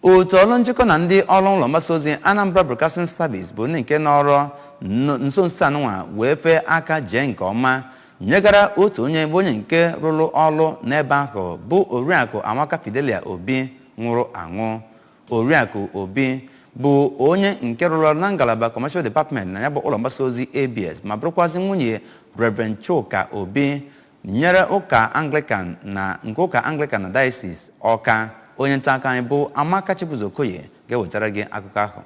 otu ọrụ njikọ na ndị ọrụ ụlọ mgbasa ozi Anambra Broadcasting Service bụ ndị nke nọrọ nso nso anụnwa wee fee aka jee nke ọma nyegara otu onye bụ onye nke rụrụ ọrụ n'ebe ahụ bụ oriakụ Amaka Fidelia Obi nwụrụ anwụ oriakụ Obi bụ onye nke rụrụ ọrụ na ngalaba Commercial Department na ya bụ ụlọ mgbasa ozi ABS ma bụrụkwazị nwunye Reverend Chuka Obi nyere ụka anglikan na nke ụka anglikan na dayọsis ọka onye nta akụkọ anyị bụ amaka chibuzo okoye ga-ewetara gị akụkọ ahụ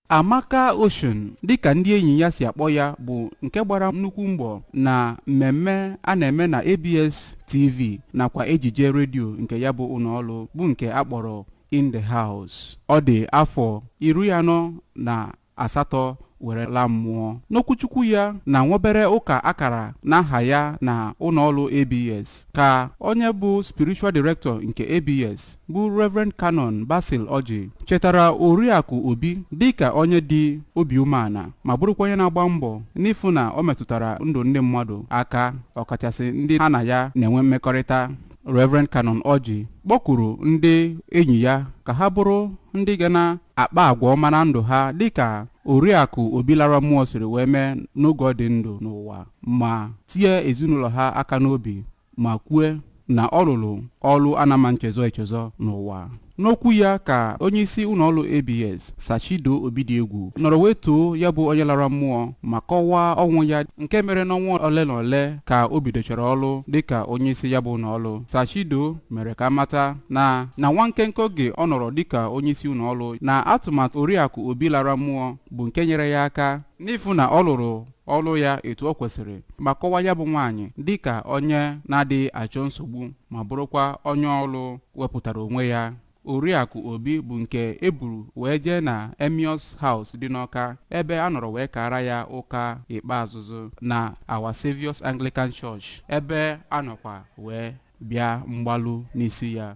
amaka ocean dịka ndị enyi ya si akpọ ya bụ nke gbara nnukwu mbọ na mmemme a na-eme na abs tv nakwa ejije redio nke ya bụ ụlọọrụ bụ nke a kpọrọ in the house ọ dị afọ iri anọ na asatọ were laa mmụọ. N'okwuchukwu ya na nwobere ụka a kara n'aha ya na ụlọọrụ ABS ka onye bụ Spiritual Director nke ABS bụ Reverend Canon Basil Orji chetara Oriakụ Obi dịka onye dị obi umeala ma bụrụkwa onye na-agba mbọ n'ịfụ na o metụtara ndụ ndị mmadụ aka ọkachasị ndị ha na ya na-enwe mmekọrịta Reverend Canon Orji kpọkuru ndị enyi ya ka ha bụrụ ndị ga na-akpa agwa ọma na ndụ ha dịka Oriakụ Obi lara mmụọ siri wee mee n'oge ọ dị ndụ n'ụwa ma tie ezinụlọ ha aka n'obi ma kwue na ọ rụrụ ọrụ a na-ama nchezọ echezọ n'ụwa. N'okwu ya ka onyeisi ụlọọrụ ABS, Sir Chido Obidiegwu, nọrọ wee too ya bụ onye lara mmụọ ma kọwaa ọnwụ ya nke mere n'ọnwa ole na ole ka o bidochara ọrụ dịka onyeisi ya bụ ụlọọrụ. Sir Chido mere ka a mata na na nwa nkenke oge ọ nọrọ dịka onyeisi ụlọọrụ na atụmatụ Oriakụ Obi lara mmụọ bụ nke nyere ya aka n'ịfụ na ọ lụrụ ọrụ ya etu o kwesịrị ma kọwaa ya bụ nwaanyị dịka onye na-adịghị achọ nsogbu ma bụrụkwa onye ọrụ wepụtara onwe ya. Oriakụ Obi bụ nke e buru wee jee na Emmaus House dị n'Ọka ebe a nọrọ wee kaara ya ụka ikpeazụzụ na Our Saviour's Anglican Church ebe a nọkwa wee bịa mgbalu n'isi ya.